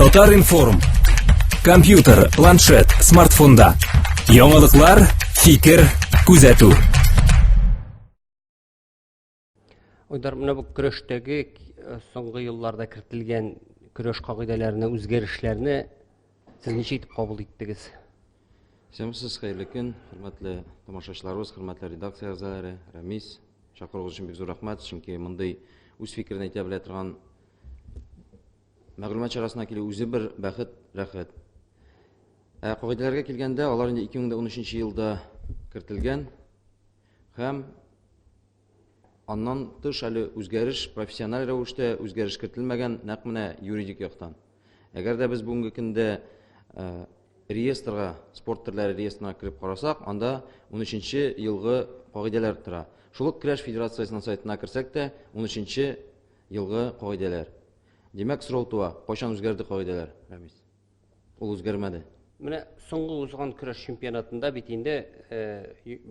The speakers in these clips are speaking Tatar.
Татар-информ. Компьютер, планшет, смартфонда. Яңалыклар, фикер, күзәтү. Уйдар менә бу көрәштәге э, соңгы елларда кертелгән көрәш кагыйдәләренә үзгәрешләрне сез ничә итеп кабул иттегез? Исәнмесез, хәерле көн, хөрмәтле тамашачыларыбыз, хөрмәтле редакция әгъзалары, Рәмис, чакыруыгыз өчен бик зур рәхмәт, чөнки мондый үз фикерен әйтә белә торган Мәгълүмат чарасына килү үзе бер бәхет, рәхәт. Ә кагыйдәләргә килгәндә, алар инде 2013 елда кертелгән һәм аннан тыш әле үзгәреш профессиональ рәвештә үзгәреш кертелмәгән нәкъ менә юридик яктан. Әгәр дә без бүгенге көндә э, реестрга, спорт төрләре реестрына кереп карасак, анда 13-нче елгы кагыйдәләр тора. Шул ук Крәш федерациясенең сайтына керсәк тә, 13-нче Елгы кагыйдәләр. Димәк, сорау туа, кайчан үзгәрде кагыйдәләр, Рәмис? Ул үзгәрмәде. Менә соңгы узган көрәш чемпионатында бит инде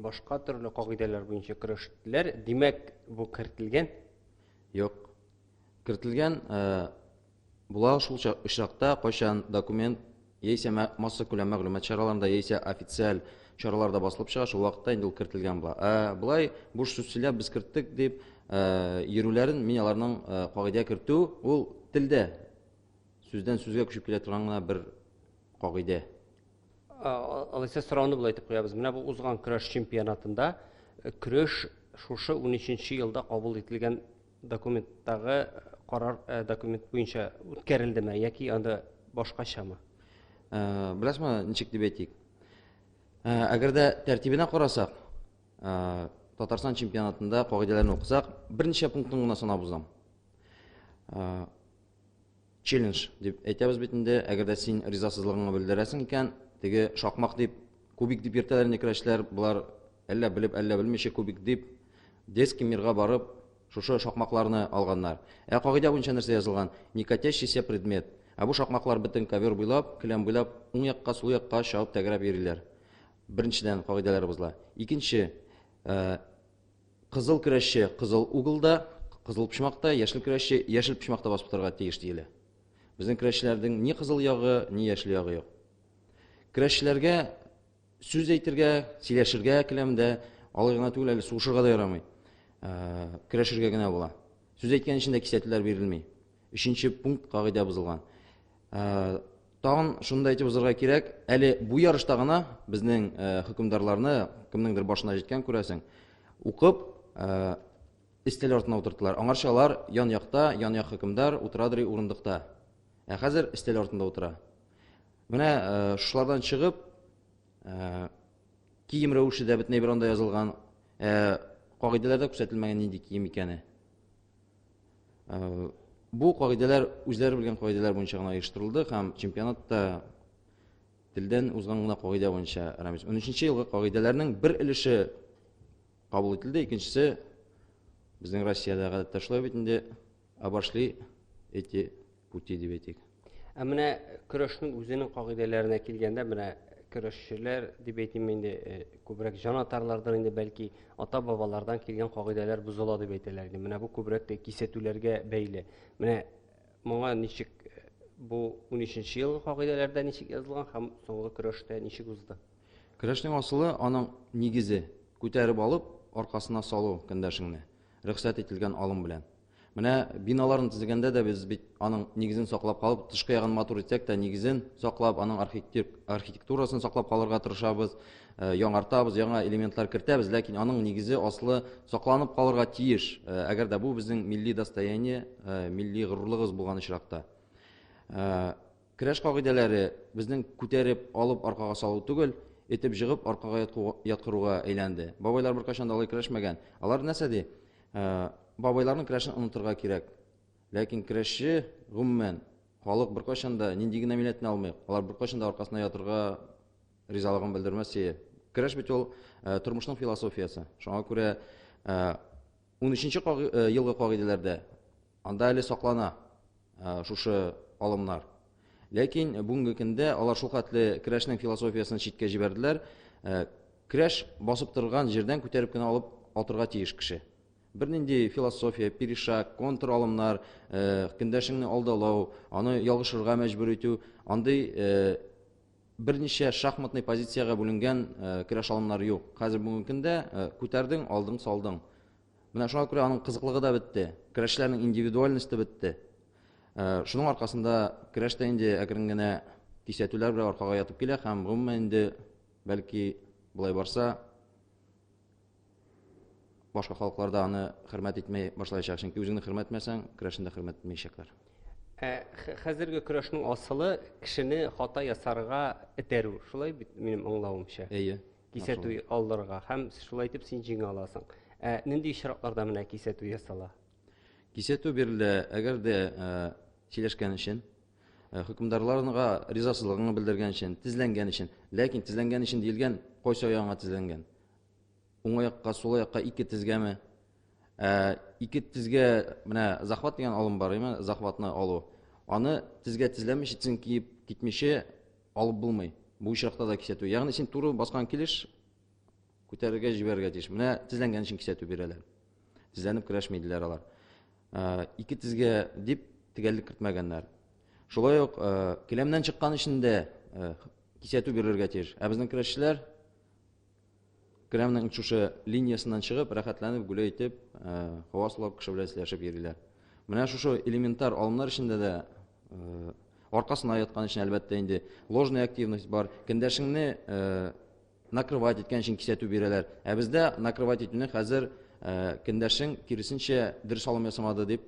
башка төрле кагыйдәләр буенча көрәштеләр. Димәк, бу кертелгән? Юк. Кертелгән була шул очракта, кайчан документ яисә массакүләм мәгълүмат чараларында, яисә официаль чараларда басылып чыга, шул вакытта инде ул кертелгән була. Ә болай буш сүз сөйләп без керттек дип йөрүләрен мин аларның кагыйдә кертү ул телдә сүздән сүзгә күчеп килә торган гына бер кагыйдә. Алайса сорауны болай итеп куябыз. Менә бу узган көрәш чемпионатында көрәш шушы 13 елда кабул ителгән Документтагы карар э, документ буенча үткәрелдеме яки анда башкачамы? Э, Беләсезме, ничек дип әйтик? Э, әгәр дә тәртибенә карасак, Татарстан чемпионатында кагыйдәләрне укысак, берничә пунктын гына санап узам. Челлендж дип әйтәбез бит инде. Әгәр дә син ризасызлыгыңны белдерәсең икән, теге шакмак дип, кубик дип йөртәләр инде көрәшчеләр. Болар әллә белеп, әллә белмичә кубик дип детский мирга барып, шушы шакмакларны алганнар. Ә кагыйдә буенча нәрсә язылган? Некатящийся предмет. Ә бу шакмаклар бөтен ковер буйлап, келәм буйлап, уң якка, сул якка чабып тәгәрәп йөриләр. Беренчедән кагыйдәләр бозыла. Икенче, Кызыл көрәшче кызыл углда, кызыл почмакта, яшел көрәшче яшел почмакта басып торырга тиеш диелә. Безнең көрәшчеләрнең ни кызыл ягы, ни яшел ягы юк. Көрәшчеләргә сүз әйтергә, сөйләшергә келәмдә алай гына түгел, әле сугышырга да ярамый. Көрәшергә генә була. Сүз әйткән өчен дә кисәтүләр бирелми. Өченче пункт кагыйдә бозылган. Ә, тагын шуны да әйтеп узарга кирәк, әле бу ярышта гына безнең ә, хөкемдарларны кемнеңдер башына җиткән күрәсең, укып ә, өстәл артына утырттылар. Аңарча алар ян якта, ян як хөкемдар утырадыр урындыкта. Ә хәзер өстәл артында утыра. Менә ә, шулардан чыгып, ә, кием рәвеше дә бөтенләй бер анда язылган, ә, кагыйдәләрдә күрсәтелмәгән нинди кием икәне. Э, бу кагыйдәләр үзләре белгән кагыйдәләр буенча гына оештырылды һәм чемпионатта телдән узган гына кагыйдә буенча Рамис 13 елгы кагыйдәләрнең бер өлеше кабул ителде, икенчесе безнең Россиядә гадәттә шулай бит инде обошли эти пути дип әйтик. Ә менә көрәшнең үзенең кагыйдәләренә килгәндә, менә көрәшчеләр дип әйтим инде, э, күбрәк җанатарлардан инде бәлки ата-бабалардан килгән кагыйдәләр бозыла дип әйтәләр инде. Менә бу күбрәк тә кисәтүләргә бәйле. Менә моңа ничек э, бу 13 елгы кагыйдәләрдә ничек язылган һәм соңгы көрәштә ничек узды? Көрәшнең асылы аның нигезе күтәреп алып, аркасына салу көндәшеңне, рөхсәт ителгән алым белән. Менә биналарын төзегәндә дә без бит аның нигезен саклап калып, тышкы ягын матур итсәк тә, нигезен саклап, аның архитектурасын саклап калырга тырышабыз, э, яңартабыз, яңа элементлар кертәбез, ләкин аның нигезе аслы сакланып калырга тиеш, э, әгәр дә бу безнең милли достояние, э, милли горурлыгыбыз булган очракта. Көрәш кагыйдәләре безнең күтәреп алып аркага салу түгел, этеп җыгып аркага яткыруга әйләнде. Бабайлар беркайчан да алай көрәшмәгән. Алар нәрсә ди? Бабайларның көрәшен онытырга кирәк. Ләкин көрәшче гомумән халык беркайчан да нинди генә милләтне алмыйк, алар беркайчан да аркасына ятырга ризалыгын белдермәс ие. Көрәш бит ул тормышның философиясе. Шуңа күрә Унөченче елгы кагыйдәләрдә анда әле саклана шушы алымнар. Ләкин бүгенге көндә алар шул хәтле керәшнең философиясен читкә җибәрделәр. Керәш басып торган җирдән күтәреп кенә алып атырга тиеш кеше. Бернинди философия, перешаг, контр алымнар, көндәшеңне алдалау, аны ялгышырга мәҗбүр итү, андый Берничә шахматный позициягә бүленгән көрәш алымнары юк. Хәзер бүгенге көндә күтәрдең, алдың, салдың. Менә шуңа күрә аның кызыклыгы да бетте. Көрәшчеләрнең индивидуальносте бетте. Шуның аркасында көрәш тә инде әкрен генә кисәтүләр белән аркага ятып килә һәм гомумән инде бәлки болай барса Башка халыкларда аны хөрмәт итмәй башлаячак, чөнки үзеңне хөрмәт итмәсәң, көрәшне дә хөрмәт итмәячәкләр. Ә хәзерге көрәшнең асылы кешене хата ясарга этәрү. Шулай бит минем аңлавымча. Әйе. Кисәтү алырга һәм шулай итеп син җиңә аласың. Ә нинди очракларда менә кисәтү ясала? Кисәтү бирелә, әгәр дә сөйләшкән өчен, хөкемдарларга ризасызлыгыңны белдергән өчен, тезләнгән өчен. Ләкин тезләнгән өчен диелгән, кайсы аягыңа тезләнгән? Уң аякка, сул аякка ике тезгәме? Ә, ике тезгә менә захват дигән алым бар, әйме? Захватны алу. Аны тезгә тезләми читсен киеп китмичә алып булмый. Бу очракта да кисәтү. Ягъни син туры баскан килеш күтәрергә җибәрергә тиеш. Менә тезләнгән өчен кисәтү бирәләр. Тезләнеп көрәшмиделәр алар. Ә, ике тезгә дип тегәллек кертмәгәннәр. Шулай ук келәмнән чыккан өчен дә кисәтү бирергә тиеш. Ә безнең көрәшчеләр Кремльнең очучы линиясеннән чыгып, рәхәтләнеп, гөлә итеп, һава сулап, кеше белән сөйләшеп йөриләр. Менә шушы элементар алымнар эчендә дә аркасына яткан өчен, әлбәттә, инде ложная активность бар. Кендәшеңне накрывать иткән өчен кисәтү бирәләр. Ә бездә накрывать итүне хәзер кендәшең киресенчә дөрес алым ясамады дип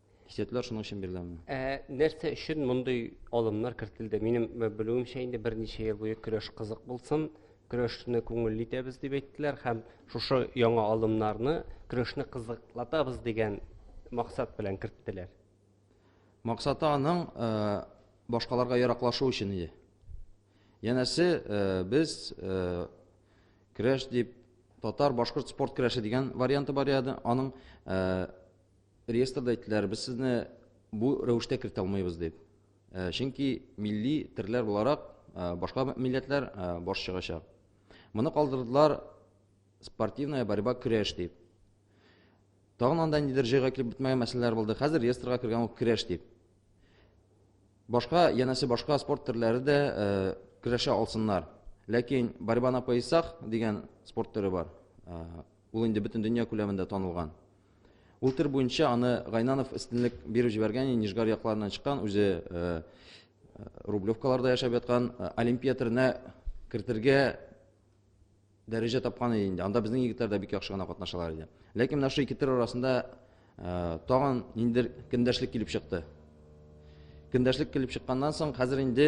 Кисәтләр шуның өчен биреләме? Ә нәрсә өчен мондый алымнар кертелде? Минем белүемчә инде берничә ел буе көрәш кызык булсын, көрәшне күңелле итәбез дип әйттеләр һәм шушы яңа алымнарны көрәшне кызыклатабыз дигән максат белән керттеләр. Максаты аның э, башкаларга яраклашу өчен иде. Янәсе э, без э, көрәш дип татар башкорт спорт көрәше дигән варианты бар иде. Аның Реестрда әйттеләр, без сезне бу рәвештә кертә алмыйбыз дип. Э, чөнки милли терләр буларак э, башка милләтләр э, баш чыгачак. Моны калдырдылар спортивная борьба көрәш дип. Тагын анда нидер җыйга килеп бетмәгән мәсьәләләр булды. Хәзер реестрга кергән ул көрәш дип. Башка, янәсе башка спорт төрләре дә көрәшә алсыннар. Ләкин борьба на поясах дигән спорт төре бар. Ул инде бөтен дөнья күләмендә танылган. Ул төр буенча аны Гайнанов өстенлек биреп җибәргән, Нижгар якларыннан чыккан, үзе Рублевкаларда яшәп яткан Олимпия төренә кертергә дәрәҗә тапкан иде инде. Анда безнең егетләр дә бик яхшы гына катнашалар иде. Ләкин менә шул ике төр арасында тагын ниндер көндәшлек килеп чыкты. Көндәшлек килеп чыкканнан соң хәзер инде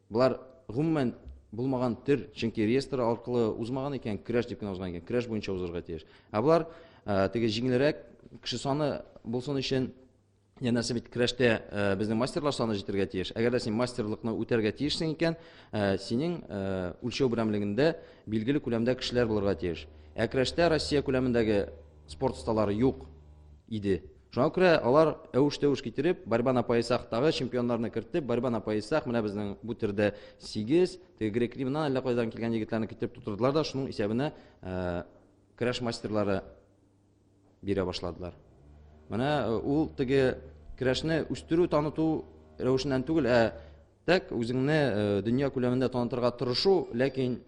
Болар гомумән булмаган төр, чөнки реестр аркылы узмаган икән, краш дип кенә узган икән, краш буенча узарга тиеш. Ә болар э, теге җиңелрәк кеше саны булсын өчен Янәсе бит крәштә э, безнең мастерлар саны җитәргә тиеш. Әгәр дә син мастерлыкны үтәргә тиешсең икән, э, синең э, үлчәү берәмлегендә билгеле күләмдә кешеләр булырга тиеш. Ә крәштә Россия күләмендәге спорт осталары юк иде. Шуңа күрә алар әвеш-тәвеш китереп, борьба на поясах тагы чемпионнарны кертеп, борьба на поясах менә безнең бу төрдә 8, теге грек-римнан әллә кайдан килгән егетләрне китереп тутырдылар да, шуның исәбенә э, көрәш мастерлары бирә башладылар. Менә э, ул теге көрәшне үстерү, таныту рәвешеннән түгел, ә так үзеңне э, дөнья күләмендә танытырга тырышу, ләкин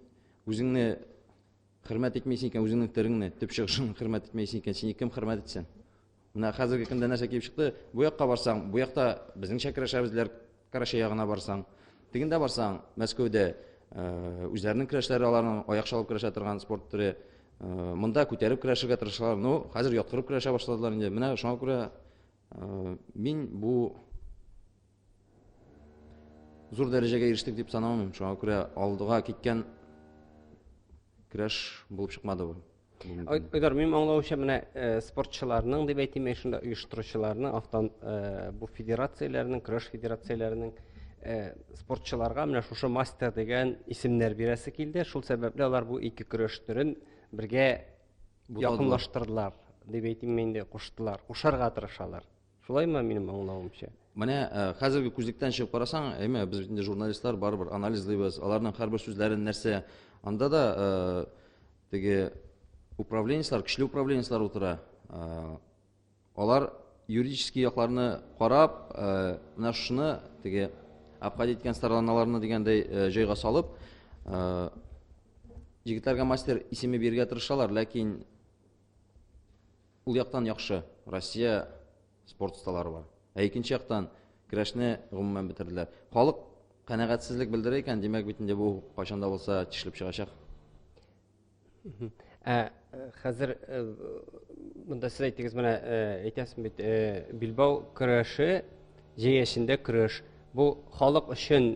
үзеңне Хөрмәт итмисең икән үзеңнең тереңне, төп чыгышың хөрмәт итмәйсең икән, сине кем хөрмәт итсен? Менә хәзерге көндә нәрсә килеп чыкты? Бу якка барсаң, бу якта безнеңчә көрәшәбезләр, Карачай ягына барсаң. Тегендә барсаң, Мәскәүдә э, үзләренең көрәшләре аларның аяк чалып көрәшә торган спорт төре. Э, монда күтәреп көрәшергә тырышалар. Ну, хәзер яткырып көрәшә башладылар инде. Менә шуңа күрә э, мин бу Зур дәрәҗәгә ирештек дип санамыйм. Шуңа күрә алдыга киткән көрәш булып чыкмады бу. Айдар, мин аңлавымча менә э, спортчыларның дип әйтим, мин шунда оештыручыларның, автон э, бу федерацияләрнең, көрәш федерацияләренең э, спортчыларга менә шушы мастер дигән исемнәр бирәсе килде. Шул сәбәпле алар бу ике көрәш төрен бергә якынлаштырдылар дип әйтим инде, куштылар, кушарга тырышалар. Шулай ма минем аңлавымча? Менә э, хәзерге күзлектән чыгып карасаң, әйме, без бит инде журналистлар барыбер анализлыйбыз, аларның һәрбер сүзләрен нәрсә. Анда да э, теге управленецлар, көчле управленецлар утыра. Э, алар юридический якларны карап, менә шуны теге обходить иткән стороналарны дигәндәй җайга салып, егетләргә мастер исеме бирергә тырышалар, ләкин Ул яктан яхшы, Россия спорт осталары бар. Ә икенче яктан көрәшне гомумән бетерделәр. Халык канәгатьсезлек белдерә икән, димәк бит инде бу кайчан да булса тишелеп чыгачак. Ә э, хәзер э, монда сез әйтегез менә э, әйтәсез бит Билбау көрәше җәяшендә көрәш. Бу халык өчен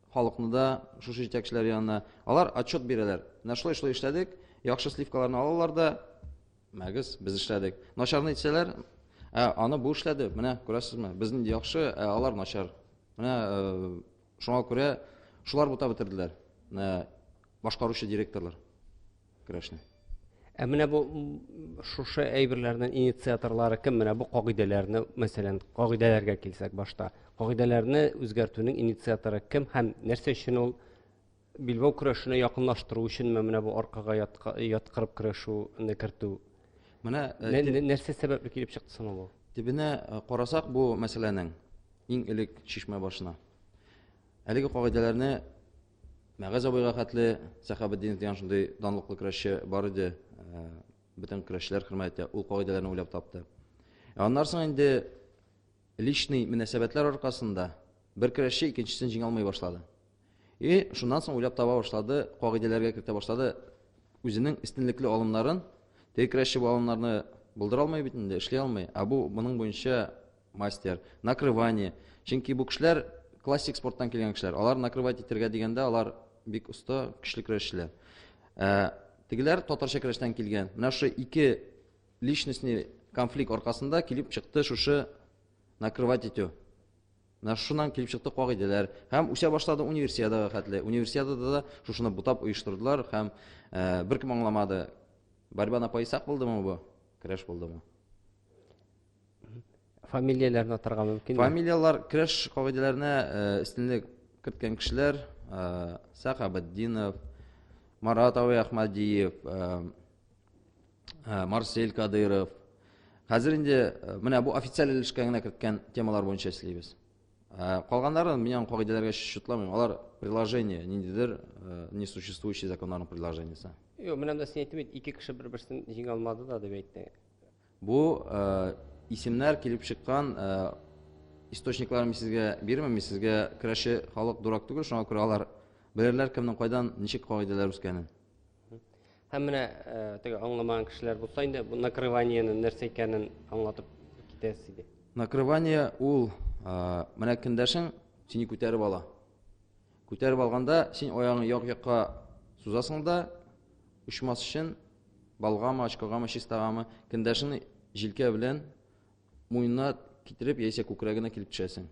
халыкны да шушы җитәкчеләр янына. Алар отчет бирәләр. Менә шулай-шулай эшләдек, яхшы сливкаларны алалар да, мәгез, без эшләдек. Начарны әйтсәләр, ә аны бу эшләде, менә күрәсезме, безнең яхшы, ә алар начар. Менә э, шуңа күрә шулар бута бетерделәр, э, башкаручы директорлар. Керәшне. Ә менә бу шушы әйберләрнең инициаторлары кем? Менә бу кагыйдәләрне, мәсәлән, кагыйдәләргә килсәк башта. Кагыйдәләрне үзгәртүнең инициаторы кем һәм нәрсә өчен ул билбау көрәшенә якынлаштыру өченме менә бу аркага яткырып көрәшүне кертү? Менә э, нәрсә сәбәпле килеп чыкты соң бу? Төбенә э, карасак бу мәсьәләнең иң элек чишмә башына. Әлеге кагыйдәләрне Мәгаз абыйга хәтле Сәхабетдинов дигән шундый данлыклы көрәшче бар иде. Э, бөтен көрәшчеләр хөрмәт итә. Ул кагыйдәләрне уйлап тапты. Ә аннан соң инде личный мөнәсәбәтләр аркасында бер көрәшче икенчесен җиңә алмый башлады. И шуннан соң уйлап таба башлады, кагыйдәләргә кертә башлады. Үзенең истинлекле алымнарын, теге көрәшче бу алымнарны булдыра алмый бит инде, эшли алмый. Ә бу моның буенча мастер, накрывание. Чөнки бу кешеләр классик спорттан килгән кешеләр. Алар накрывать итергә дигәндә, алар бик оста, көчле көрәшчеләр. Ә, тегеләр татарча көрәштән килгән. Менә шушы ике личностный конфликт аркасында килеп чыкты шушы накрывать итү. Менә шуннан килеп чыкты кагыйдәләр. Һәм үсә башлады универсиадага хәтле. Универсиадада да шушыны бутап оештырдылар һәм ә, беркем аңламады. Борьба на поясах булдымы бу? Көрәш булдымы? Фамилияләрне атарга мөмкинме? Фамилияләр креш кагыйдәләренә өстенлек керткән кешеләр, Сахабетдинов, Марат абый Ахмадиев, Марсель Кадыров. Хәзер инде менә бу официаль өлешкә генә керткән темалар буенча эшлибез. Калганнарын мин аны кагыйдәләргә чутламыйм. Алар приложение, ниндидер несуществующий законнарның приложениесе. Юк, менә дә син әйттең бит, ике кеше бер-берсен җиңә алмады да дип әйтте. Бу исемнәр килеп чыккан источниклар мин сезгә бирмим, мин сезгә керәши халык дурак түгел, шуңа күрә алар белерләр кемнең кайдан ничек кагыйдәләр үскәнен. Һәм менә теге аңламаган кешеләр булса инде бу накрываниене нәрсә икәнен аңлатып китәсез иде. Накрывание ул менә кендәшең сине күтәреп ала. Күтәреп алганда, син аягыңны як-якка сузасың да, очмас өчен балгамы, очкогамы, чистагамы, кендәшеңне җилкә белән муенына китереп, яисә күкрәгенә килеп төшәсең.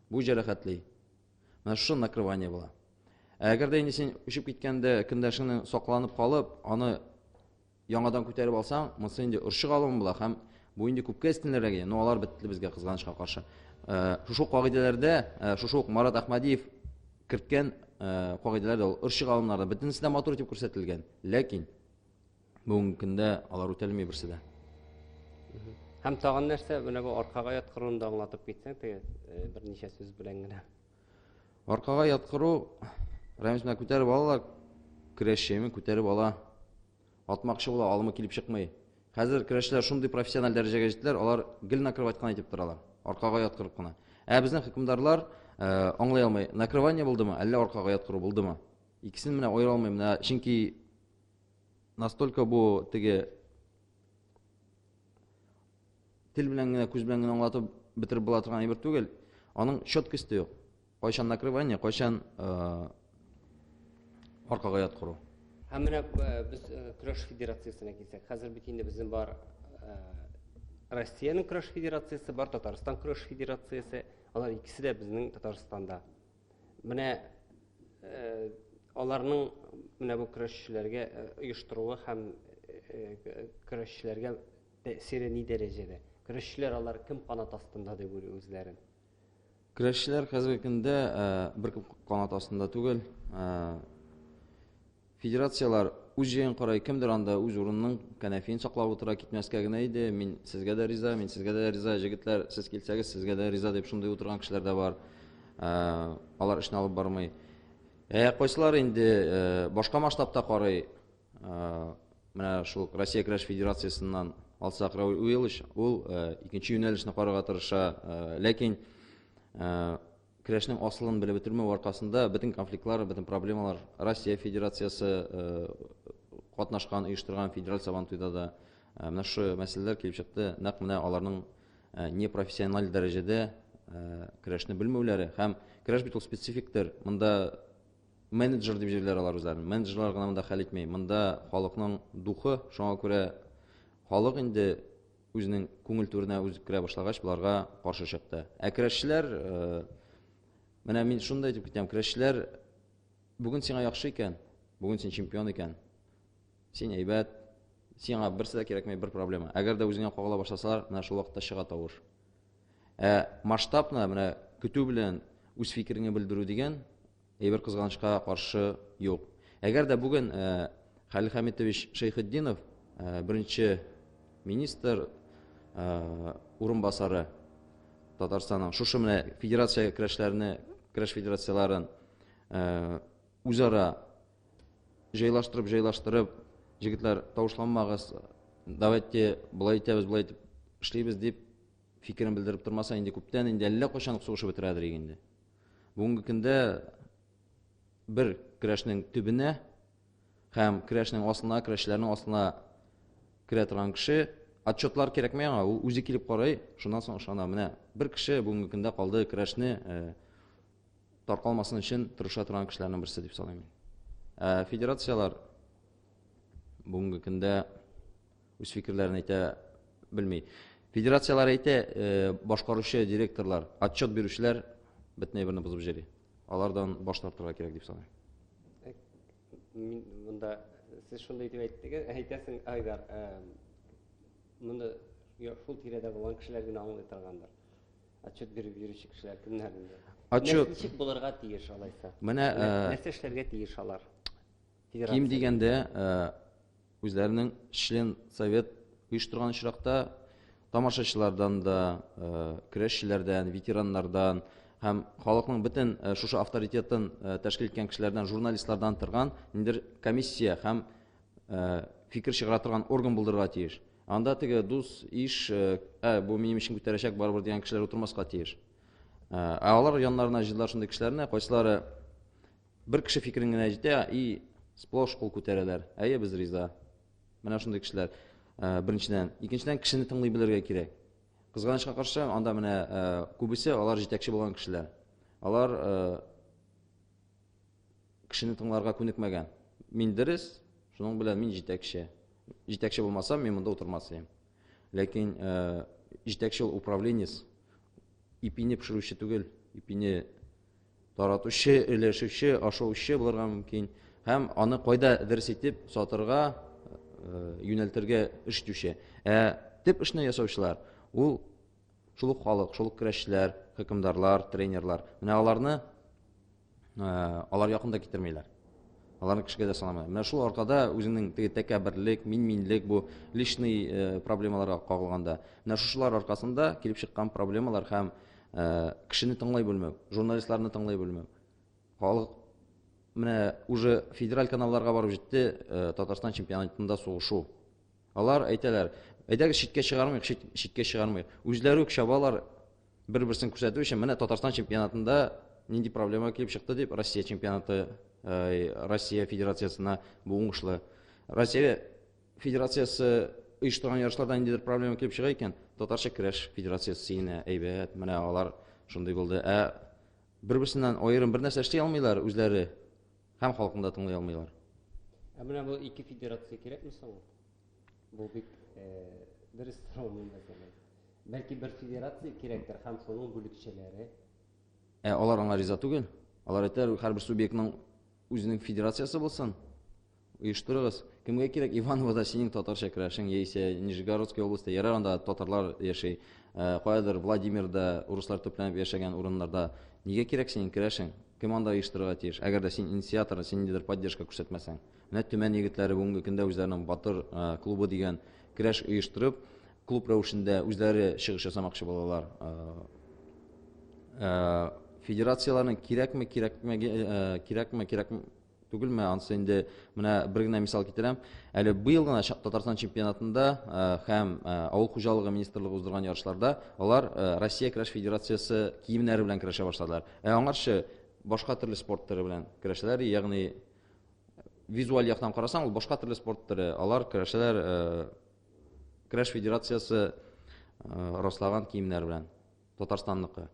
Бу җәрәхәтли. Менә шушы накрывание була. Ә әгәр дә инде син очып киткәндә кендәшеңнең сакланып калып, аны Яңадан күтәреп алсаң, монысы инде орчык алым була һәм бу инде күпкә өстенлерәге. Но алар бетте безгә кызганычка каршы. Э, шушы ук кагыйдәләрдә, э, шушы ук Марат Ахмадиев керткән э, кагыйдәләрдә ул орчык алымнарда бөтенесе дә матур итеп күрсәтелгән. Ләкин бүгенге көндә алар үтәлми берсе дә. Һәм тагын нәрсә, менә бу аркага яткыруны да аңлатып китсәң, теге берничә сүз белән генә. Аркага яткыру, Рәмис менә күтәреп ала да, көрәшчеме күтәреп ала. Атмакчы була, алымы килеп чыкмый. Хәзер көрәшчеләр шундый профессиональ дәрәҗәгә җиттеләр, алар гел накрывать кына итеп торалар. Аркага яткырып кына. Ә безнең хөкемдарлар э, аңлый алмый, накрывание булдымы, әллә аркага яткыру булдымы? Икесен менә аера алмыйм, менә чөнки настолько бу теге тел белән генә, күз белән генә аңлатып бетереп була торган әйбер түгел. Аның четкосте юк. Кайчан накрывание, кайчан аркага ят кору. Һәм менә без көрәш федерациясенә килсәк, хәзер бит инде безнең бар Россиянең көрәш федерациясе бар, Татарстан көрәш федерациясе, алар икесе дә безнең Татарстанда. Менә э, аларның менә бу көрәшчеләргә э, оештыруы һәм э, көрәшчеләргә Тәэсире ни дәрәҗәдә? Көрәшчеләр алар кем канат астында дип уйлый үзләрен? Көрәшчеләр хәзерге көндә э, беркем канат астында түгел. Э, федерацияләр үз җаен карай, кемдер анда үз урынының кәнәфиен саклап утыра, китмәскә генә иде. Мин сезгә дә риза, мин сезгә дә риза, җегетләр, сез килсәгез, сезгә дә риза дип шундый утырган кешеләр дә бар. Э, алар эшне алып бармый. Ә кайсылар инде башка масштабта карый, Менә шул Россия көрәш федерациясеннән алсак, Рауль Уилыч, ул икенче юнәлешне карарга тырыша, ләкин көрәшнең асылын белеп бетермәү аркасында бөтен конфликтлар, бөтен проблемалар Россия федерациясе катнашкан, оештырган федераль сабан туйда да менә шу мәсьәләләр килеп чыкты. Нәкъ менә аларның непрофессиональ дәрәҗәдә көрәшне белмәүләре һәм көрәш бит ул специфик төр. Монда Менеджер дип җирләр алар үзләрен. Менеджерлар гына монда хәл итми. Монда халыкның духы, шуңа күрә халык инде үзенең күңел түренә үзе керә башлагач, боларга каршы чыкты. Ә керәшчеләр э, менә мин шундый әйтеп китәм, керәшчеләр бүген сиңа яхшы икән, бүген син чемпион икән. Син әйбәт, сиңа берсе дә кирәкмәй, бер проблема. Әгәр дә үзеңә кагыла башласалар, менә шул вакытта чыга тавыш. Ә масштабны менә көтү белән үз фикереңне белдерү дигән И бер кызганычка каршы юк. Әгәр дә бүген Хәлил Хәмитович Шәйхетдинов беренче министр урынбасары Татарстанның шушы менә федерация көрәшләрне, көрәш федерацияләрен үзара җайлаштырып, җайлаштырып, җегетләр, тавышланмагыз, давайте былай итәбез, былай итеп эшлибез дип Фикерен белдереп тормаса, инде күптән, инде әллә кайчан сугышып бетерәдер инде. Бүгенге көндә бер крәшнең төбенә һәм крәшнең астына, крәшләрнең астына керә торган кеше отчетлар кирәкмәй аңа, ул үзе килеп карый, шуннан соң ышана. Менә бер кеше бүгенге көндә калды крәшне э, таркалмасын өчен тырыша торган кешеләрнең берсе дип саныйм. Ә федерацияләр бүгенге көндә үз фикерләрен әйтә белми. Федерацияләр әйтә, э, башкаручы директорлар, отчет бирүчеләр бөтен әйберне бозып җөри. Алардан баш тартырга кирәк дип саныйм. Э, мин монда сез шундый дип әйттегез, әйтәсең, Айдар, э, монда шул тирәдә булган кешеләр генә аңлый торгандыр. Отчет биреп йөрүче кешеләр кемнәр инде? Отчет ничек булырга тиеш алайса? Менә нәрсә эшләргә тиеш алар? Ким дигәндә, үзләренең член совет оештырган очракта тамашачылардан да, көрәшчеләрдән, ветераннардан һәм халыкның бөтен шушы авторитетын тәшкил иткән кешеләрдән, журналистлардан торган ниндер комиссия һәм фикер чыгара торган орган булдырырга тиеш. Анда теге дус, иш, ә бу минем ишен күтәрәчәк барыбер дигән кешеләр утырмаска тиеш. Ә алар яннарына җыйдылар шундый кешеләрне, кайсылары Бер кеше фикерен генә әйтә и сплош кул күтәрәләр. Әйе, без риза. Менә шундый кешеләр. Э, беренчедән, икенчедән кешене тыңлый белергә кирәк. Кызганычка каршы, анда менә э, күбесе алар җитәкче булган кешеләр. Алар э, кешене тыңларга күнекмәгән. Мин дөрес, шуның белән мин җитәкче. Җитәкче булмасам, мин монда утырмас идем. Ләкин җитәкче ул управленец, ипине пешерүче түгел, ипине Таратучы, өләшүче, ашаучы булырга мөмкин һәм аны кайда дөрес итеп сатырга юнәлтергә эш итүче. Ә төп эшне ясаучылар ул шул ук халык, шул ук көрәшчеләр, хөкемдарлар, тренерлар. Менә аларны алар якында китермиләр. Аларны кешегә дә санамыйлар. Менә шул аркада үзенең теге тәкәбберлек, мин-минлек бу личный проблемаларга кагылганда, менә шушылар аркасында килеп чыккан проблемалар һәм Э, кешене тыңлай белмәү журналистларны тыңлай белмәү халык менә уже федераль каналларга барып җитте э, татарстан чемпионатында сугышу алар әйтәләр әйдәгез читкә чыгармыйк читкә чыгармыйк үзләре үк чабалар бер берсен күрсәтү өчен менә татарстан чемпионатында нинди проблема килеп чыкты дип россия чемпионаты э, россия федерациясына бу уңышлы россия Федерациясе оештырган ярышларда ниндидер проблема килеп чыга икән, татарча көрәш федерациясе сиенә, әйбәт, менә алар шундый булды. Ә бер-берсеннән аерым бер нәрсә эшли алмыйлар үзләре һәм халыкны да тыңлый алмыйлар. Ә менә бу ике федерация кирәкме соң? Бу бик дөрес сорау монда кирәк. Бәлки бер федерация кирәктер һәм соның бүлекчәләре. Ә алар аңа риза түгел. Алар әйтәләр, һәрбер субъектның Үзенең федерациясе булсын, оештырыгыз. Кемгә кирәк Ивановода синең татарча керәшең, яисә Нижегородская областьта, ярар анда татарлар яши, э, каядыр Владимирда урыслар төпләнеп яшәгән урыннарда. Нигә кирәк синең керәшең? Кем анда оештырырга тиеш? Әгәр дә син инициатор, син ниндидер поддержка күрсәтмәсәң. Менә Төмән егетләре бүгенге көндә үзләренең батыр э, клубы дигән керәш оештырып, Клуб рәвешендә үзләре чыгыш ясамакчы булалар. Федерацияләрнең кирәкме, кирәкме, кирәкме, кирәкме түгелме, ансы инде менә бер генә мисал китерәм. Әле быел гына Татарстан чемпионатында һәм авыл хуҗалыгы министрлыгы уздырган ярышларда алар Россия көрәш федерациясе киемнәре белән көрәшә башладылар. Ә аңарчы башка төрле спорт төре белән көрәшәләр, ягъни визуаль яктан карасаң, ул башка төрле спорт төре. Алар көрәшәләр Крәш федерациясе раслаган киемнәр белән Татарстанныкы.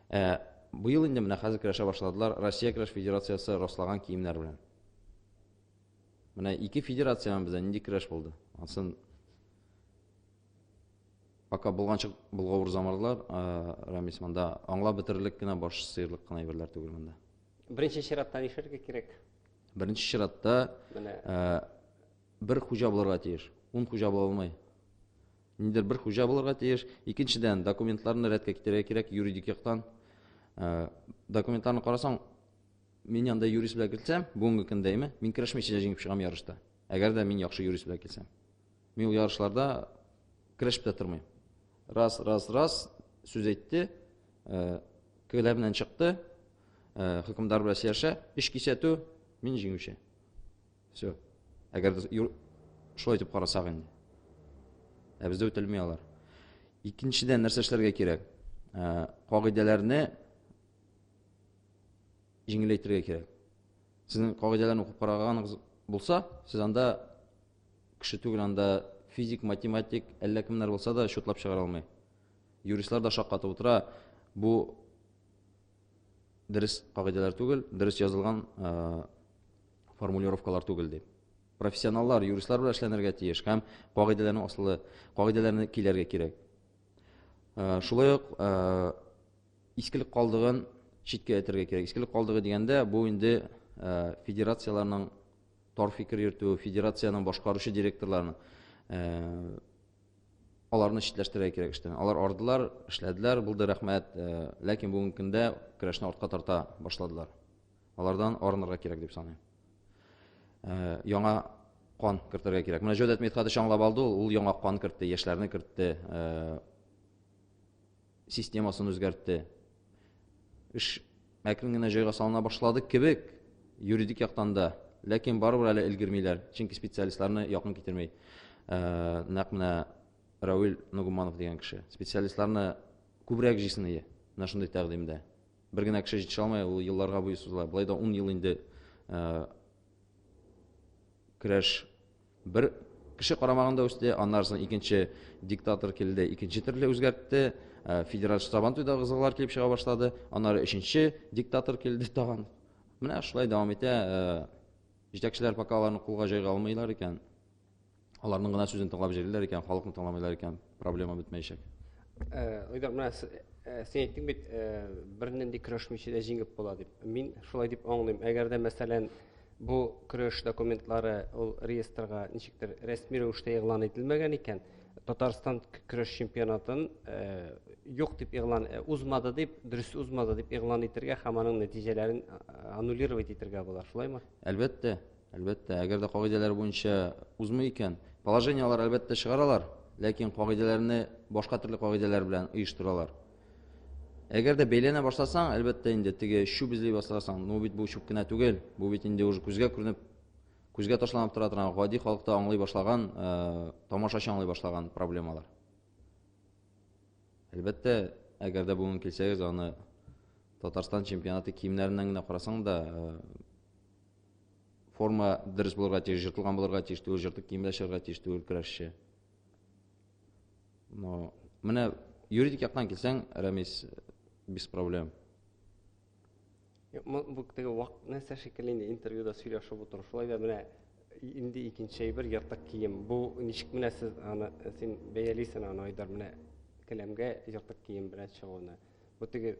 Ә быел инде менә хәзер көрәшә башладылар Россия көрәш федерациясе раслаган киемнәр белән. Менә ике федерациянең бездә нинди көрәш булды. Ансын пока булганча булгавыр замарлар, Рамис монда аңлап бетерерлек кенә баш сыерлык кына әйберләр түгел монда. Беренче чиратта нишләргә кирәк? Беренче чиратта менә Бер хуҗа булырга тиеш. Ун хуҗа була алмый. Нидер бер хуҗа булырга тиеш. Икенчедән, документларны рәткә китерергә кирәк юридик яктан. Э, документларны карасаң, мин янда юрист белән килсәм, бүгенге көндә әйме, мин керәшмичә дә җиңеп чыгам ярышта. Әгәр дә мин яхшы юрист белән килсәм. Мин ул ярышларда керәшеп тә тормыйм. Раз, раз, раз сүз әйтте, э, көләбеннән чыкты, э, хөкемдар белән сөйләшә, эш кисәтү, мин җиңүче. Все. Әгәр шулай итеп карасак инде. Ә бездә үтәлми алар. Икенчедән нәрсә эшләргә кирәк? Ә, кагыйдәләрне җиңеләйтергә кирәк. Сезнең кагыйдәләрне укып караганыгыз булса, сез анда кеше түгел, анда физик, математик, әллә кемнәр булса да счетлап чыгара алмый. Юристлар да шаккатып утыра. Бу дөрес кагыйдәләр түгел, дөрес язылган формулировкалар түгел дип. Профессионаллар, юристлар белән эшләнергә тиеш һәм кагыйдәләрне асылы, кагыйдәләрне киләргә кирәк. Шулай ук искелек калдыгын читкә әйтергә кирәк. Искелек калдыгы дигәндә, бу инде федерацияләрнең тар фикер йөртү, федерациянең башкаручы директорларының аларны читләштерергә кирәк эштән. Алар ардылар, эшләделәр, булды рәхмәт, э, ләкин бүгенге көндә көрәшне артка тарта башладылар. Алардан арынырга кирәк дип саныйм. Э, яңа кан кертергә кирәк. Менә Җодәт Митхадыч аңлап алды, ул яңа кан кертте, яшьләрне кертте. Э, системасын үзгәртте. Эш әкрен генә җайга салына башлады кебек, юридик яктан да, ләкин барыбер әле өлгермиләр, чөнки специалистларны якын китермей. Э, нәкъ менә Равил Нугуманов дигән кеше. Специалистларны күбрәк җисение менә шундый тәкъдимдә. Бер генә кеше җитешә алмай, ул елларга буе сузыла. Болай да 10 ел инде э, Көрәш бер кеше карамагында үсте, аннары соң икенче диктатор килде, икенче төрле үзгәртте, э, федераль штабан туйда кызыллар килеп чыга башлады, аннары өченче диктатор килде тагын. Менә шулай дәвам итә, э, җитәкчеләр пока аларны кулга җайга алмыйлар икән. Аларның гына сүзен тыңлап җырлыйлар икән, халыкны тыңламыйлар икән, проблема бетмәячәк. Э, Айдар, менә э, син әйттең бит, э, бернинди көрәшмичә дә җиңеп була дип. Мин шулай дип аңлыйм. Әгәр дә, мәсәлән, бу көрәш документлары ул реестрга ничектер рәсми рәвештә игълан ителмәгән икән, Татарстан көрәш чемпионатын э, юк дип игълан э, узмады дип, дөрес узмады дип игълан итергә һәм аның нәтиҗәләрен э, аннулировать итергә була, шулаймы? Әлбәттә, Әлбәттә, әгәр дә кагыйдәләр буенча узмый икән, положение алар әлбәттә чыгаралар, ләкин кагыйдәләрне башка төрле кагыйдәләр белән оештыралар. Әгәр дә бәйләнә башласаң, әлбәттә инде теге чүп эзли башласаң, ну бит бу чүп кенә түгел, бу бит инде уже күзгә күренеп, күзгә ташланып тора торган, гади халыкта аңлый башлаган, э, тамашачы аңлый башлаган проблемалар. Әлбәттә, әгәр дә бүген килсәгез, аны Татарстан чемпионаты киемнәреннән генә карасаң да, э, форма дөрес булырга тиеш, жыртылган булырга тиеш түгел, жыртык киемдә чыгарга тиеш түгел көрәшче. Но менә юридик яктан килсәң, Рәмис без проблем. Бу теге вак нәрсә шикелле инде интервьюда сөйләшеп утыру. Шулай да менә инде икенче әйбер ертык кием. Бу ничек менә сез аны син бәялисен аны Айдар менә келәмгә ертык кием белән чыгуны. Бу теге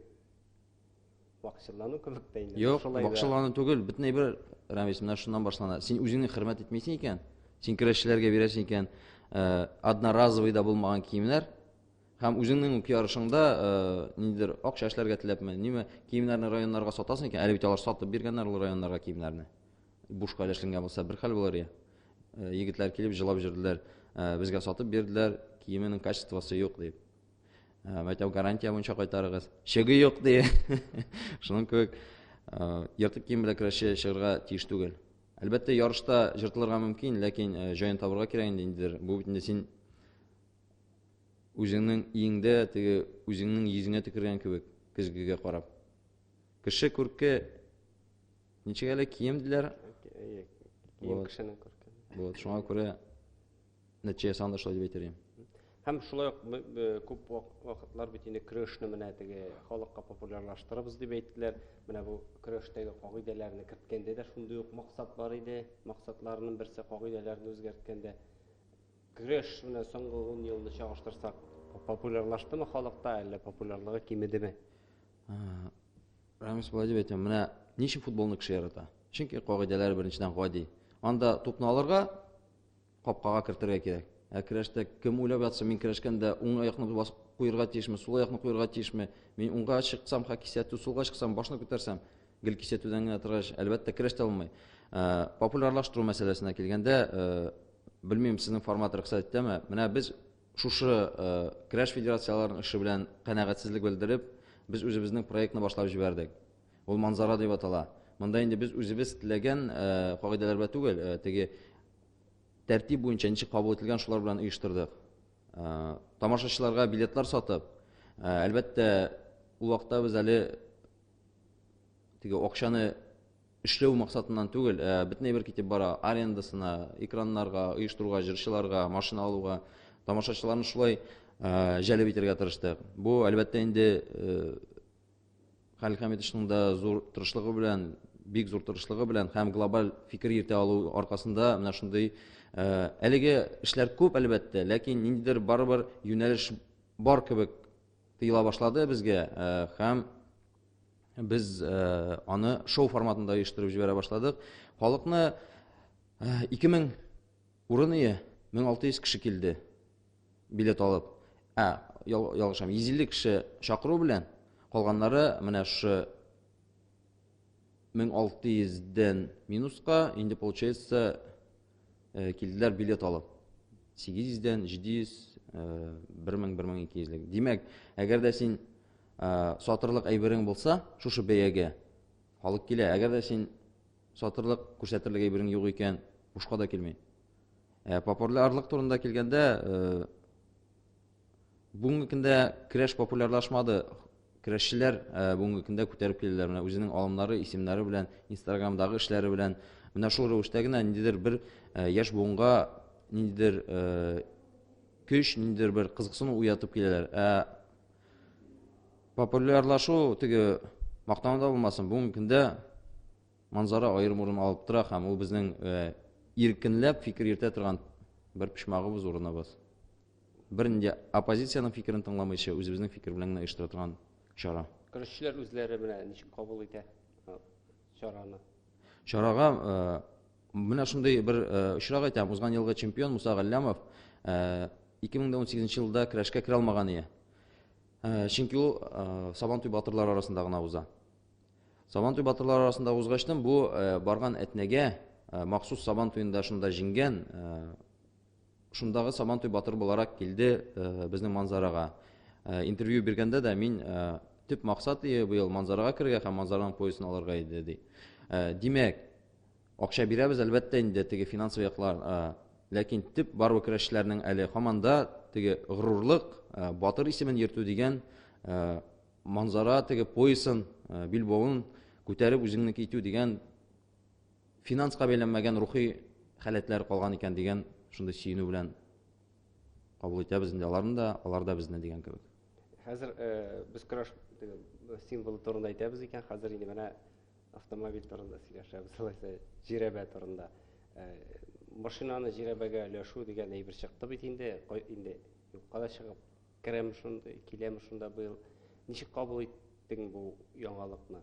Бакчылану кебек тә инде. Юк, бакчылану түгел, бөтен әйбер Рәмис менә шуннан башлана. Син үзеңне хөрмәт итмисең икән, син керәшчеләргә бирәсең икән, э, одноразовый да булмаган киемнәр һәм үзеңнең үк ярышыңда э, ниндидер акча эшләргә теләпме, ниме киемнәрне районнарга сатасың икән, әле бит алар сатып биргәннәр ул районнарга киемнәрне. Бушка өләшленгән булса бер хәл булыр я. Э, егетләр килеп җылап җөрделәр, безгә сатып бирделәр, киеменең качествосы юк дип. Ә, мәктәп гарантия буенча кайтарыгыз. Чыгы юк ди. Шуның кебек ә, ертык кием белән көрәшче чыгарга тиеш түгел. Әлбәттә, ярышта җыртылырга мөмкин, ләкин ә, җаен табырга кирәк инде индидер. Бу бит инде син үзеңнең иңдә, теге үзеңнең йөзеңә төкергән кебек, көзгегә карап. Кеше күрке ничек әле кием диләр? Кием кешенең күрке. Вот, шуңа күрә Нәтиҗә саны шулай дип әйтер идем. Һәм шулай ук күп вакытлар бит инде крышны менә теге халыкка популярлаштырабыз дип әйттеләр. Менә бу крыштагы кагыйдәләрне керткәндә дә шундый ук максат бар иде. Максатларының берсе кагыйдәләрне үзгәрткәндә крыш менә соңгы 10 елны чагыштырсак, популярлаштымы халыкта, әллә популярлыгы кимедеме? Рамис болай дип әйтә, менә ничек футболны кеше ярата? Чөнки кагыйдәләр беренчедән гади. Анда тупны алырга, Капкага кертергә кирәк. Ә керәштә кем уйлап ятсын, мин керәшкәндә уң аякны басып куерга тиешме, сул аякны куерга тиешме? Мин уңга чыксам, ха кисәтү, сулга чыксам, башны күтәрсәм, гел кисәтүдән генә торгач, әлбәттә, керәш тә булмый. Ә, популярлаштыру мәсьәләсенә килгәндә, ә, белмим, сезнең формат рөхсәт итәме? Менә без шушы ә, керәш федерацияләренең эше белән канәгатьсезлек белдереп, без үзебезнең проектны башлап җибәрдек. Ул манзара дип атала. Монда инде без үзебез теләгән кагыйдәләр белән түгел, теге тәртип буенча ничек кабул ителгән шулар белән оештырдык. Тамашачыларга билетлар сатып, әлбәттә, ул вакытта без әле теге акчаны эшләү максатыннан түгел, бөтен әйбер китеп бара, арендасына, экраннарга, оештыруга, җырчыларга, машина алуга, тамашачыларны шулай җәлеп итәргә тырыштык. Бу, әлбәттә, инде Хәлил Хәмитовичның да зур тырышлыгы белән, бик зур тырышлыгы белән һәм глобаль фикер йөртә алу аркасында менә шундый э, әлеге эшләр күп әлбәттә, ләкин ниндидер барыбер юнәлеш бар кебек тыела башлады безгә э, һәм без э, аны шоу форматында оештырып җибәрә башладык. Халыкны 2000 урын ие 1600 кеше килде. билет алып, ә, ял, ялгышам, 150 кеше чакыру белән, калганнары менә шушы 1600-дән минуска, инде получается э, килделәр билет алып. 800-дән 700, 1000-1200-лек. Димәк, әгәр дә син э, сатырлык әйберең булса, шушы бәягә халык килә. Әгәр дә син сатырлык күрсәтерлек әйберең юк икән, бушка да килми. Ә популярлык турында килгәндә, э, бүгенге көндә креш популярлашмады. Крешчеләр э, бүгенге көндә күтәреп киләләр. Менә үзенең алымнары, исемнәре белән, Инстаграмдагы эшләре белән. Менә шул рәвештә генә ниндидер бер э, яшь буынга ниндидер көч, ниндидер бер кызыксыну уятып киләләр. Ә популярлашу теге мактану да булмасын, бүгенге көндә Манзара аерым урын алып тора һәм ул безнең иркенләп фикер йөртә торган бер почмагыбыз, урыныбыз. Бернинди оппозициянең фикерен тыңламыйча, үзебезнең фикер белән генә оештыра торган чара. Көрәшчеләр үзләре менә ничек кабул итә чараны? Чарага менә шундый бер очрак әйтәм, узган елгы чемпион Муса Галлямов 2018 елда көрәшкә керә алмаган ие. Чөнки ул Сабантуй батырлары арасында гына уза. Сабантуй батырлары арасында узгачтын бу барган әтнәгә махсус сабан туенда шунда җиңгән шундагы сабантуй батыр буларак килде безнең манзарага интервью биргәндә дә мин төп максат быел манзарага керергә һәм манзараның поясын алырга иде ди димәк акча бирәбез әлбәттә инде теге финансовый яклар ләкин төп барлык көрәшчеләрнең әле һаман да теге горурлык батыр исемен йөртү дигән Манзара теге поясын, э, билбавын күтәреп үзеңнеке итү дигән финанска бәйләнмәгән рухи халәтләр калган икән дигән шундый сөенү белән кабул итәбез инде аларны да, алар да безне дигән кебек. Хәзер э, без краш символы турында әйтәбез икән, хәзер инде менә автомобиль турында сөйләшәбез, алайса җирәбә турында. Э, машинаны җирәбәгә өләшү дигән әйбер чыкты бит инде, инде юкка да чыгып Керәм шунда, киләм шунда быел. Ничек кабул иттең бу яңалыкны?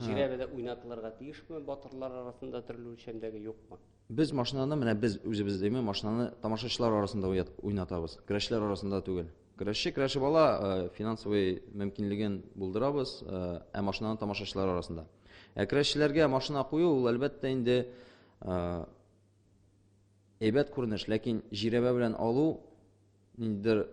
Җирәбедә уйнатылырга тиешме батырлар арасында төрле үлчәмдәге юкмы? Без машинаны менә без үзебез дими машинаны тамашачылар арасында уйнатабыз. Көрәшләр арасында түгел. Көрәшче көрәшеп ала, э, финансовый мөмкинлеген булдырабыз, э, ә машинаны тамашачылар арасында. Ә көрәшчеләргә машина кую ул әлбәттә инде э, әйбәт күренеш, ләкин җирәбә белән алу ниндидер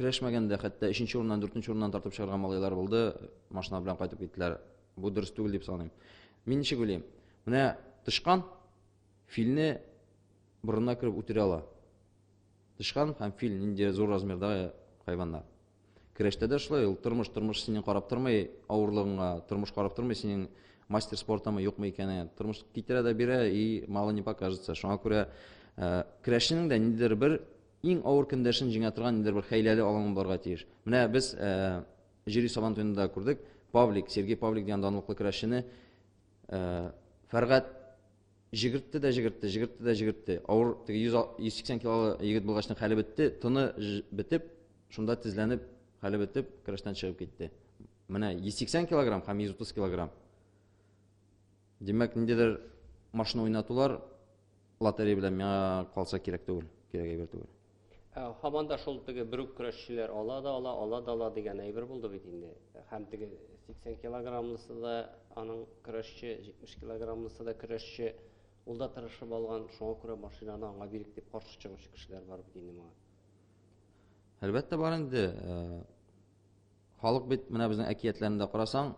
Килешмәгәндә хәтта 3 нче урыннан 4 нче урыннан тартып чыгарган малайлар булды. Машина белән кайтып киттеләр. Бу дөрес түгел дип саныйм. Мин ничек уйлыйм? Менә тышкан филне борынына кереп үтерә ала. Тышкан һәм фил нинди зур размердагы хайваннар. Көрәштә дә шулай ул тормыш, тормыш синең карап тормый авырлыгыңа, тормыш карап тормый синең мастер спортамы юкмы икәне. Тормыш китерә дә бирә и мало не покажется. Шуңа күрә э, көрәшченең дә ниндидер бер иң авыр көндәшен җиңә торган ниндидер бер хәйләле алаңы барга тиеш. Менә без э, җири сабан туенда күрдек. Павлик, Сергей Павлик дигән данлыклы көрәшчене э, Фәргать Җигертте дә җигертте, җигертте дә җигертте. Авыр, теге 100, 180 килолы егет булгачның хәле бетте, тыны бетеп, шунда тезләнеп, хәле бетеп, көрәштән чыгып китте. Менә 180 килограмм һәм 130 килограмм. Димәк, ниндидер машина уйнатулар лотерея белән миңа калса кирәк түгел, кирәк әйбер түгел. Ә һаман да шул теге бер үк көрәшчеләр ала да ала, ала да ала дигән әйбер булды бит инде. Һәм теге 80 килограммлысы да аның көрәшче, 70 килограммлысы да көрәшче. Ул да тырышып алган, шуңа күрә машинаны аңа бирик дип каршы чыгучы кешеләр бар бит инде моңа. Әлбәттә бар инде. Халык бит менә безнең әкиятләрендә карасаң,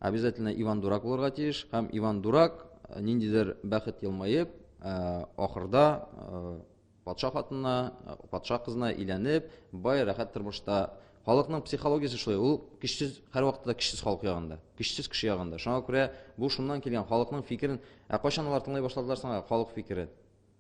Обязательно Иван Дурак булырга тиеш һәм Иван Дурак э, ниндидер бәхет елмаеп, э, ахырда э, патша хатынына, патша кызына иләнеп, бай рәхәт тормышта халыкның психологиясе шулай ул көчсез һәрвакытта да көчсез халык ягында көчсез кеше ягында шуңа күрә бу шуннан килгән халыкның фикерен ә кайчан алар тыңлай башладылар соң халык фикерен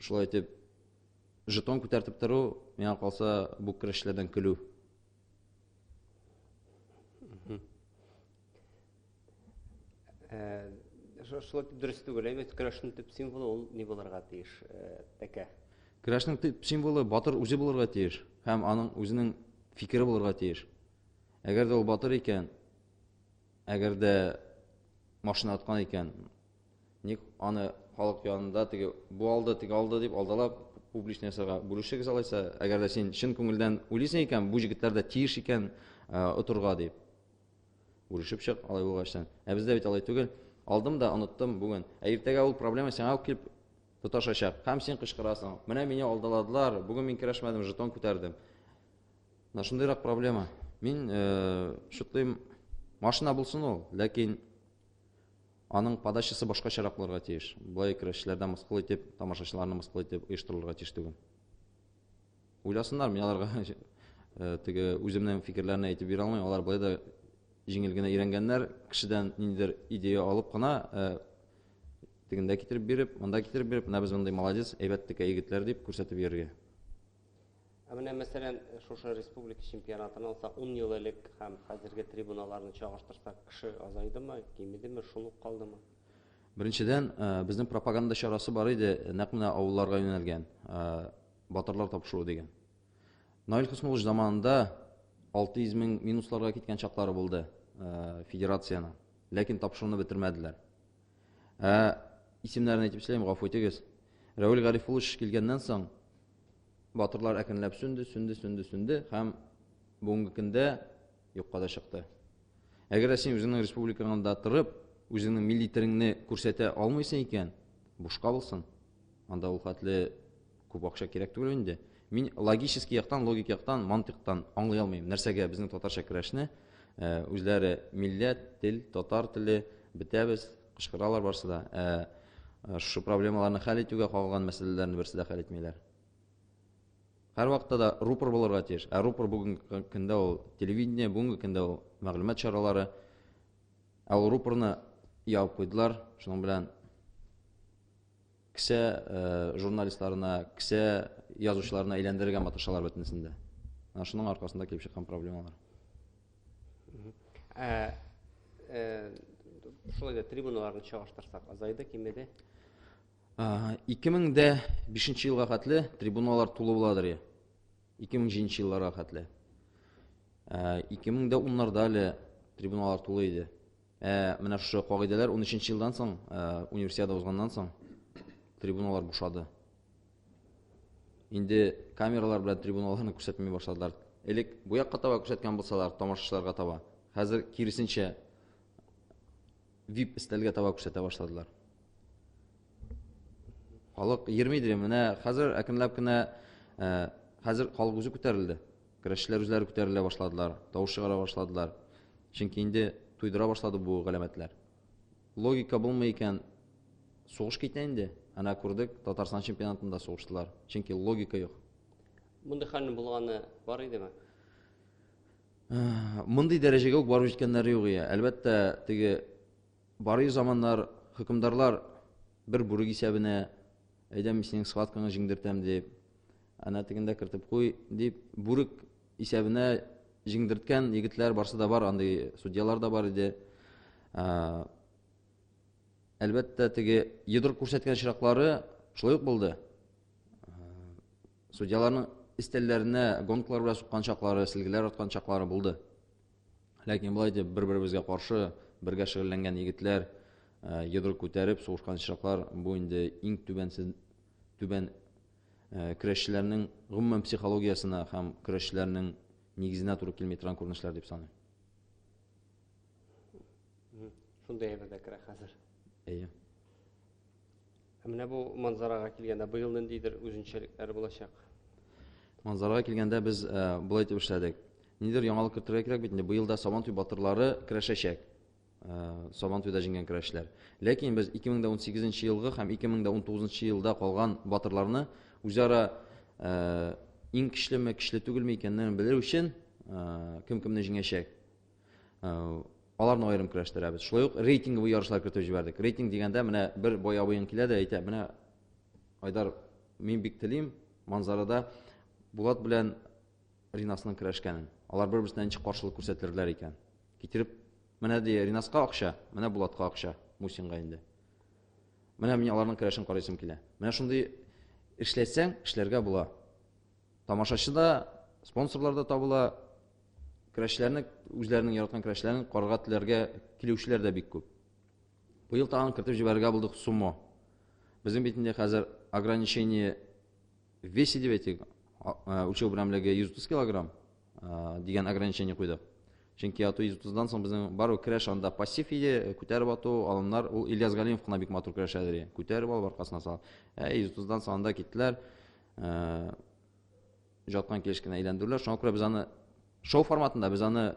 шулай итеп жетон күтәртеп тору миңа калса бу көрәшләрдән көлү э, шулай итеп дөрес түгел әйбәт э, көрәшнең төп символы ул ни булырга тиеш э, тәкә көрәшнең төп символы батыр үзе булырга тиеш һәм аның үзенең фикере булырга тиеш әгәр дә ул батыр икән әгәр дә машина аткан икән Ник аны халык янында теге бу алды, теге алды дип алдалап публичный ясарга бүлешегез алайса, әгәр дә син чын күңелдән уйлыйсың икән, бу җегетләр дә тиеш икән отырга дип. Бүлешеп чык, алай булгач сен. Ә бездә бит алай түгел. Алдым да оныттым бүген. Ә иртәгә ул проблема сиңа ук килеп тоташачак. Һәм син кычкырасың. Менә мине алдаладылар, бүген мин керәшмәдем, жетон күтәрдем. Менә шундыйрак проблема. Мин шутлыйм, машина булсын ул, ләкин Аның подачасы башкачарак булырга тиеш. Болай көрәшчеләрдә мыскыл итеп, тамашачыларны мыскыл итеп оештырылырга тиеш түгел. Уйласыннар, мин аларга теге үземнең фикерләрне әйтеп бирә алмыйм. Алар болай да җиңел генә өйрәнгәннәр, кешедән ниндидер идея алып кына тегендә китереп биреп, монда китереп биреп, менә без мондый молодец, әйбәт текә егетләр дип күрсәтеп йөрергә. Ә менә, мәсәлән, шушы республика чемпионатын алсак, ун ел элек һәм хәзерге трибуналарны чагыштырсак, кеше азайдымы, кимедеме, шул ук калдымы? Беренчедән, безнең пропаганда чарасы бар иде, нәкъ менә авылларга юнәлгән, батырлар табышуы дигән. Наил Хөснуллович заманында 600 мең минусларга киткән чаклары булды федерацияне, ләкин табышуны бетермәделәр. Ә исемнәрен әйтеп эшләйм, гафу итегез. Рәүл Гарифулович килгәннән соң батырлар әкренләп сүнде, сүнде, сүнде, сүнде һәм бүгенге көндә юкка да чыкты. Әгәр син үзеңнең республикаңда торып, үзеңнең милли телеңне күрсәтә алмыйсың икән, бушка булсын. Анда ул хәтле Күп акча кирәк түгел инде. Мин логический яктан, логик яктан, мантыктан аңлый алмыйм, нәрсәгә безнең татарча көрәшне э, үзләре милләт, тел, татар теле, бетәбез, кычкыралар барсы да. Ә э, шушы проблемаларны хәл итүгә кагылган мәсьәләләрне берсе дә хәл итмиләр. Һәрвакытта да рупор булырга тиеш. Ә рупор бүгенге көндә ул телевидение, бүгенге көндә ул мәгълүмат чаралары. Ә ул рупорны яуып куйдылар, шуның белән Кесә журналистларына, кесә язучыларына әйләндерергә маташалар бөтенесен дә. Менә шуның аркасында килеп чыккан проблемалар. Ә, ә, шулай да трибуналарны чагыштырсак, азайды, кимеде? 2005 елга хәтле трибуналар тулы буладыр я. 2007 елларга хәтле. 2010 нарда әле трибуналар тулы иде. Ә менә шушы кагыйдәләр 13 елдан соң, универсиада узганнан соң трибуналар бушады. Инде камералар белән трибуналарны күрсәтми башладылар. Элек бу якка таба күрсәткән булсалар, тамашачыларга таба. Хәзер киресенчә VIP стәлгә таба күрсәтә башладылар. Халык йөрмидер, менә хәзер әкренләп кенә хәзер халык үзе күтәрелде. Көрәшчеләр үзләре күтәрелә башладылар, тавыш чыгара башладылар. Чөнки инде туйдыра башлады бу галәмәтләр. Логика булмый икән, сугыш китә инде. Әнә күрдек, Татарстан чемпионатында сугыштылар. Чөнки логика юк. Мондый хәлнең булганы бар идеме? Мондый дәрәҗәгә үк барып җиткәннәре юк ия. Әлбәттә, теге бары заманнар хөкемдарлар бер бүрек исәбенә әйдәм синең схваткаңа җиңдертәм дип, Әнә тегендә кертеп куй, дип, бүрек исәбенә җиңдерткән егетләр барсы да бар, андый судьялар да бар иде. Әлбәттә, теге йодрык күрсәткән чираклары шулай ук булды. Судьяларның истәлләренә гонкалар белән суккан чаклары, силгеләр аткан чаклары булды. Ләкин болай дип бер-беребезгә каршы бергә шөгыльләнгән егетләр йодрык күтәреп сугышкан чаклар бу инде иң түбәнсез түбән көрәшчеләрнең гомумән психологиясенә һәм көрәшчеләрнең нигезенә туры килми торган күренешләр дип саныйм. Шундый әйбер дә керә хәзер. Әйе. Ә менә бу манзарага килгәндә быел ниндидер үзенчәлекләр булачак? Манзарага килгәндә без былай дип эшләдек. Нидер яңалык кертергә кирәк бит инде. Быел да Сабантуй батырлары керәшәчәк. Сабантуйда җиңгән көрәшләр. Ләкин без 2018 елгы һәм 2019 елда калган батырларны үзара иң көчлеме, көчле түгелме икәнлеген белер өчен кем кемне җиңәчәк. Аларны аерым көрәштерәбез. Шулай ук рейтинговый ярышлар кертеп җибәрдек. Рейтинг дигәндә менә бер бай абыең килә дә әйтә, менә Айдар, мин бик телим Манзарада Булат белән Ринасның көрәшкәнен. Алар бер-берсенә ничек каршылык күрсәтерләр икән? Китереп, менә ди Ринаска акча, менә Булатка акча, Мусинга инде. Менә мин аларның керәшен карыйсым килә. Менә шундый эшләсәң, эшләргә була. Тамашачы да, спонсорлар да табыла. Керәшләрне, үзләренең яраткан керәшләрен карарга теләргә килүчеләр дә бик күп. Быел тагын кертеп җибәрергә булдык сумо. Безнең бит инде хәзер ограничение весе дип әйтик, үлчәү берәмлеге 130 килограмм. дигән ограничение куйдык. Чөнки ату 130-дан соң безнең барлык көрәш анда пассив иде, э, күтәреп ату, алымнар ул Ильяс Галимов кына бик матур көрәшә иде. Күтәреп алып аркасына салып. Ә 130-дан соң анда киттеләр. Э, жаткан килеш кенә әйләндерүләр. Шуңа күрә без аны шоу форматында без аны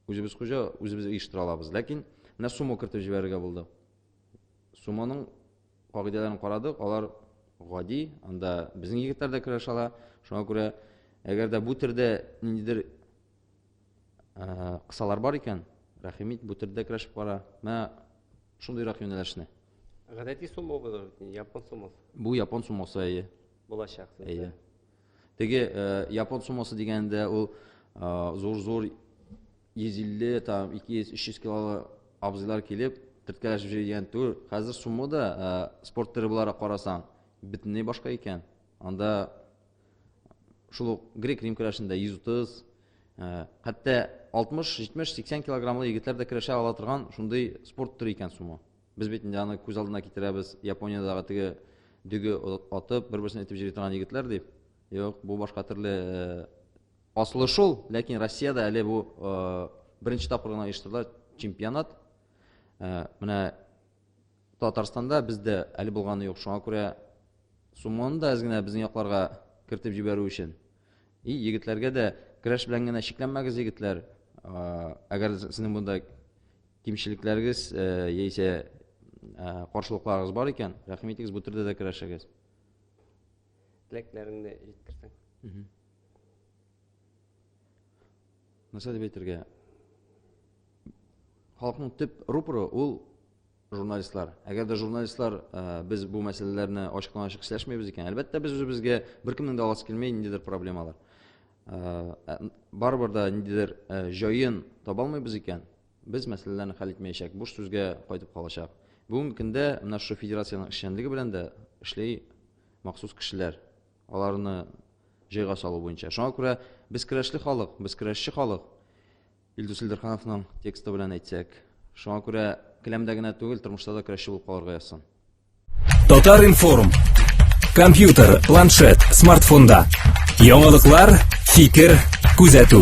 үзебез хуҗа, үзебез оештыра алабыз. Ләкин менә сумо кертеп җибәрергә булды. Сумоның кагыйдәләрен карадык, алар гади, анда безнең егетләр дә көрәшә ала. Шуңа күрә, әгәр дә бу төрдә ниндидер кысалар бар икән, рәхим ит, бу төрдә көрәшеп кара. Менә шундыйрак юнәлешне. Гадәти сумо булыр бит, япон сумосы. Бу япон сумосы әйе. Булачак. Әйе. Теге япон сумосы дигәндә ул зур-зур 150, там, 200, 300 килолы абзыйлар килеп, төрткәләшеп җөри дигән түгел. Хәзер сумма да ә, спорт төре буларак карасаң, бөтенләй башка икән. Анда шул ук грек-рим көрәшендә 130, ә, хәтта 60, 70, 80 килограммлы егетләр дә көрәшә ала торган шундый спорт төре икән сумо. Без бит инде аны күз алдына китерәбез, Япониядәге теге дөге атып, бер-берсен итеп җыри торган егетләр дип. Юк, бу башка төрле э, Асылы шул, ләкин Россиядә әле бу беренче тапкыр гына оештырыла чемпионат. Менә Татарстанда бездә әле булганы юк, шуңа күрә сумманы да әз генә безнең якларга кертеп җибәрү өчен. И егетләргә дә көрәш белән генә чикләнмәгез, егетләр. Әгәр сезнең монда кимчелекләрегез яисә каршылыкларыгыз бар икән, рәхим итегез, бу төрдә дә көрәшегез. теләкләреңне җиткерсәң. Нәрсә дип әйтергә? Халыкның төп рупоры ул журналистлар. Әгәр дә журналистлар э, без бу мәсьәләләрне ачыктан ачык сөйләшмәйбез икән, әлбәттә без үзебезгә беркемнең дә аласы килмәй ниндидер проблемалар. Э, э, барыбер да ниндидер җаен таба алмыйбыз икән, Без мәсьәләләрне хәл итмәячәк, буш сүзгә кайтып калачак. Бүгенге көндә менә шушы федерациянең эшчәнлеге белән дә эшли махсус кешеләр. Аларны җайга салу буенча. Шуңа күрә без көрәшле халык, без көрәшче халык. Илдус Илдерхановның тексты белән әйтсәк. Шуңа күрә келәмдә генә түгел, тормышта да көрәшче булып калырга язсын. Татар информ. Компьютер, планшет, смартфонда. Яңалыклар, фикер, күзәтү.